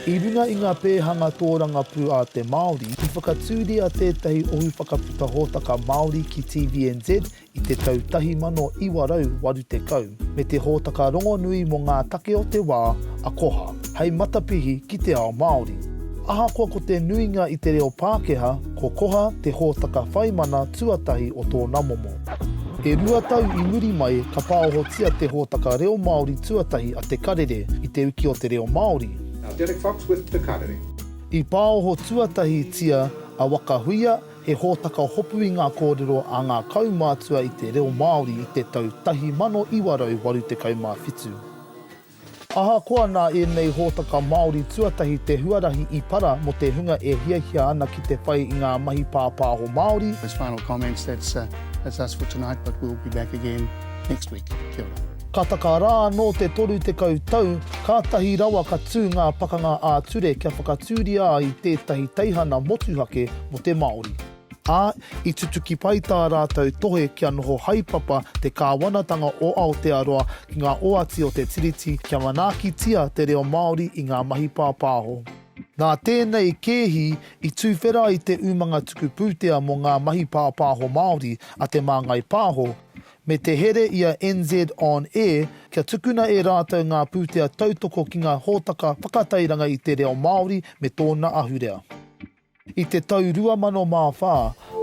I runga i ngā pēhanga tōrangapū a te Māori, i whakatūria tētahi Ohu Whakaputa Hōtaka Māori ki TVNZ i te tau 1980, me te hōtaka rongonui mō ngā take o te wā, a Koha, hei matapihi ki te ao Māori. Ahakoa ko te nuinga i te reo Pākehā, Ko Koha te hōtaka whai mana tuatahi o tōna momo. E rua tau i muri mai ka pāohotia te hōtaka reo Māori tuatahi a Te Karere i Te Uki o te Reo Māori. Now Derek Fox with Te Karere. I pāoho tuatahitia a Waka Huia, he hōtaka hopu i ngā kōrero a ngā kaumātua i te reo Māori i te tau 1987. Ahakoa nā ēnei hōtaka Māori tuatahi te huarahi i para mō te hunga e hiahia ana ki te whai i ngā mahi pāpāho Māori, As final comments that's that's us for tonight but we'll be back again next week. Kia ora. Ka taka rā anō te 30 tau, kātahi rawa ka tū ngā pakanga ā-ture kia whakatūria ai tētahi teihana motuhake mō te Māori. ā, i tutuki pai tā rātou tohe kia noho haepapa te Kāwanatanga o Aotearoa ki ngā oati o te Tiriti kia manaakitia te reo Māori i ngā mahi pāpāho. Nā tēnei kēhi i tūwhera ai te umanga tuku pūtea mō ngā mahi pāpāho Māori a Te Māngai Pāho, me te here i a NZ On Air kia tukuna e rātou ngā pūtea tautoko ki ngā hōtaka whakatairanga i te reo Māori me tōna ahurea. I te tau 2004,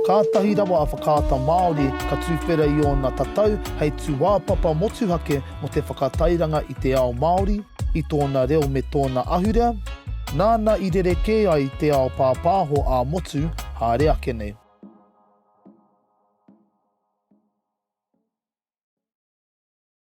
kātahi rawa a Whakaata Māori ka tuwhera i ōna tatau hei tūāpapa motuhake mō te whakatairanga i te ao Māori, i tōna reo me tōna ahurea, nāna i rerekē ai te ao pāpāho ā-motu haere ake nei.